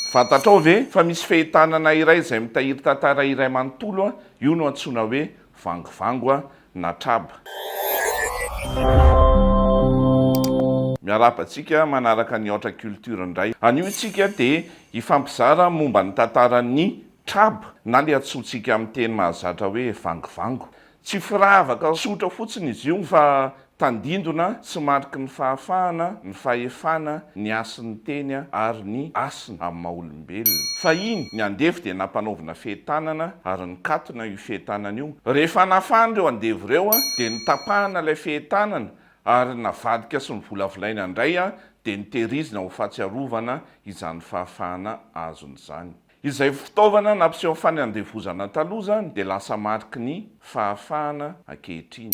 Fantatrao ve fa misy fehitanana iray izay mitahiry tantara iray manontolo, io no antsoina hoe Vangovango na Traba. Miarahaba antsika manaraka ny Aotra Culture indray. Anio isika dia hifampizara momba ny tantaran'ny Traba na ilay antsointsika amin'ny teny mahazatra hoe Vangovango. Tsy firavaka tsotra fotsiny izy io fa tandindona tsy mariky ny fahafahana, ny fahefana, ny hasin'ny teny ary ny hasina amin'ny maha olombelona. Fahiny, ny andevo dia nampanaovina fehin-tanana ary nikatona io fehin-tanana io. Rehefa nafana ireo andevo ireo dia notapahana ilay fehin-tanana ary navadika sy novolavolaina indray dia notehirizina ho fahatsiarovana izany fahafahana azony izany. Izay fitaovana nampiseho fa ny handevozana taloha izany dia lasa mariky ny fahafahana ankehitriny.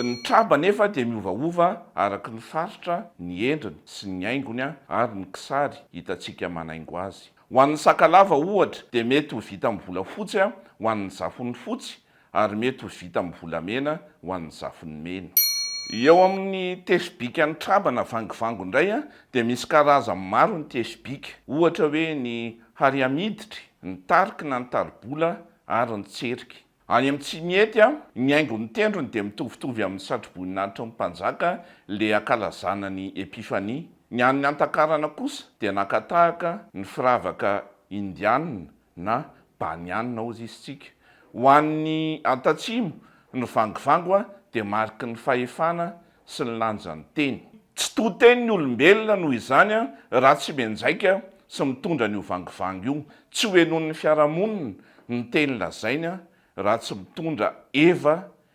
Ny traba anefa dia miovaova araka ny faritra, ny endriny sy ny haingony ary ny kisary hitantsika manaingo azy. Ho an'ny sakalava, ohatra, dia mety ho vita amin'ny volafotsy ho an'ny zafony fotsy, ary mety ho vita amin'ny volamena ho an'ny zafin'ny mena. Eo amin'ny tesi-bika nitraba na vangivango indray dia misy karazany maro ny tesi-bika, ohatra hoe ny hariamiditry, ny tariky na ny taribola ary ny tseriky. Any amin'ny Tsimihety, ny haingon'ny tendrony dia mitovitovy amin'ny satroboninahitry ny mpanjaka le ankalazana ny Epifania. Ny an'ny Antakarana kosa dia naka tahaka ny firavaka indianina na Baniana hozy isintsika. Ho an'ny Antatsimo, ny vangivango dia mariky ny fahefana sy ny lanjan'ny teny. Tsy to teny ny olombelona noho izany raha tsy mianjaika sy mitondra an'io vangivango io. Tsy hohenoin'ny fiarahamonina ny teny lazainy raha tsy mitondra eva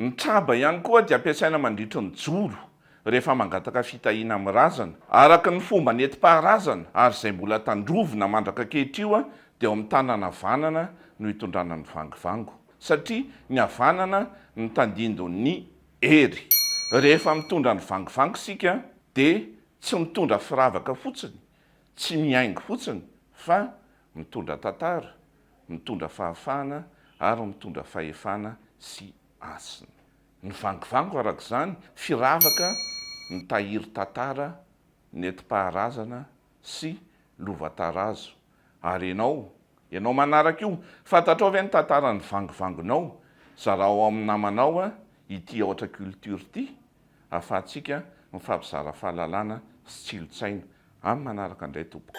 Ny traba ihany koa dia ampiasaina mandritry ny joro rehefa mangataka fitahiana amin'ny razana. Araka ny fomba nentim-paharazana ary izay mbola tandrovina mandraka ankehitr'io dia ao amin'ny tanana havanana no hitondrana ny vangivango satria ny havanana no tandindon'ny hery. Rehefa mitondra ny vangivango isika dia tsy mitondra firavaka fotsiny, tsy mihaingo fotsiny fa mitondra tantara. mitondra fahafahana ary mitondra fahefana sy hasina. Ny vangovango araka izany firavaka mitahiry tantara, nentim-paharazana sy lova-tarazo. Ary ianao? Ianao manaraka io, fantatrao ve ny tantaran'ny vangovangonao? Zarao ao amin'ny namanao ity Aotra Culture ity ahafahantsika mifampizara fahalalana sy tsilontsaina. Amin'ny manaraka indray tompoko.